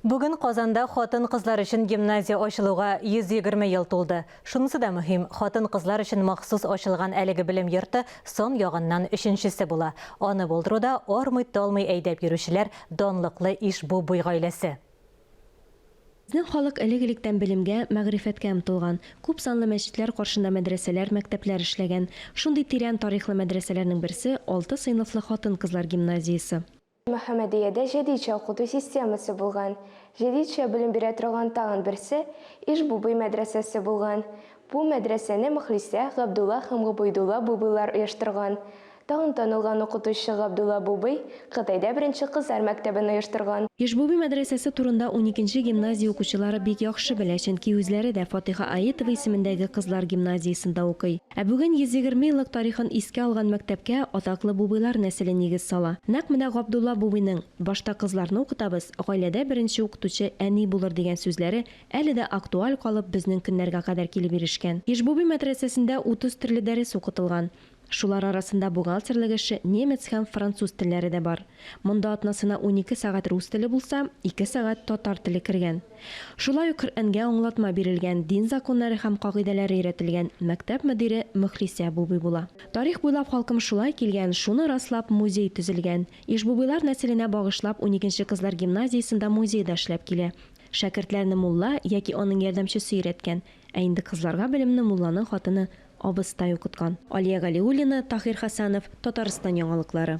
Бүген Казанда хатын-кызлар өчен гимназия ачылуга 120 ел тулды. Шунысы да мөһим, хатын-кызлар өчен махсус ачылган әлеге белем йорты сан ягыннан өченчесе була. Аны булдыруда армый-талмый әйдәп йөрүчеләр, данлыклы Иж-Бу-Буй гаиләсе. Безнең халык элек-электән белемгә, мәгърифәткә омтылган. Күп санлы мәчетләр каршында мәдрәсәләр, мәктәпләр эшләгән. Шундый тирән тарихлы мәдрәсәләрнең берсе, алты сыйныфлы хатын-кызлар гимназиясе. Мөхәммәдиядә җәдитчә укыту системасы булган. Җәдитчә белем бирә торган тагын берсе, Иж-Бубый мәдрәсәсе булган. Бу мәдрәсәне Мөхлисә, Габдулла һәм Гобәйдулла Бубыйлар оештырган. Тагын танылган укытучы Габдулла Бубый Кытайда беренче кызлар мәктәбен оештырган. Иж-Бубый мәдрәсәсе турында уникенче гимназия укучылары бик яхшы белә, чөнки үзләре дә Фатыйха Аетова исемендәге кызлар гимназиясендә укый. Ә бүген 120 еллык тарихын искә алган мәктәпкә атаклы Бубыйлар нәселе нигез сала. Нәкъ менә Габдулла Бубыйның, Башта кызларны укытабыз, гаиләдә беренче укытучы әни булыр, дигән сүзләре әле дә актуаль калып, безнең көннәргә кадәр килеп ирешкән. Ижбуби мәдрәсәсендә 30 төрле дәрес укытылган. Шулар арасында бухгалтерлык эше, немец һәм француз телләре дә бар. Монда атнасына унике сәгать рус теле булса, ике сәгать татар теле кергән. Шулай ук Коръәнгә аңлатма бирелгән, дин законнары һәм кагыйдәләре өйрәтелгән мәктәп мөдире Мөхлисә абубый була. Тарих буйлап халкым шулай килгән, шуны раслап музей төзелгән. Ишбубыйлар нәселенә багышлап уникенче кызлар гимназиясендә музей да эшләп килә. Шәкертләрне мулла яки аның ярдәмчесе өйрәткән, ә инде кызларга белемне мулланың хатыны, абыстай укыткан. Алия Галиуллина, Таһир Хәсәнов, Татарстан яңалыклары.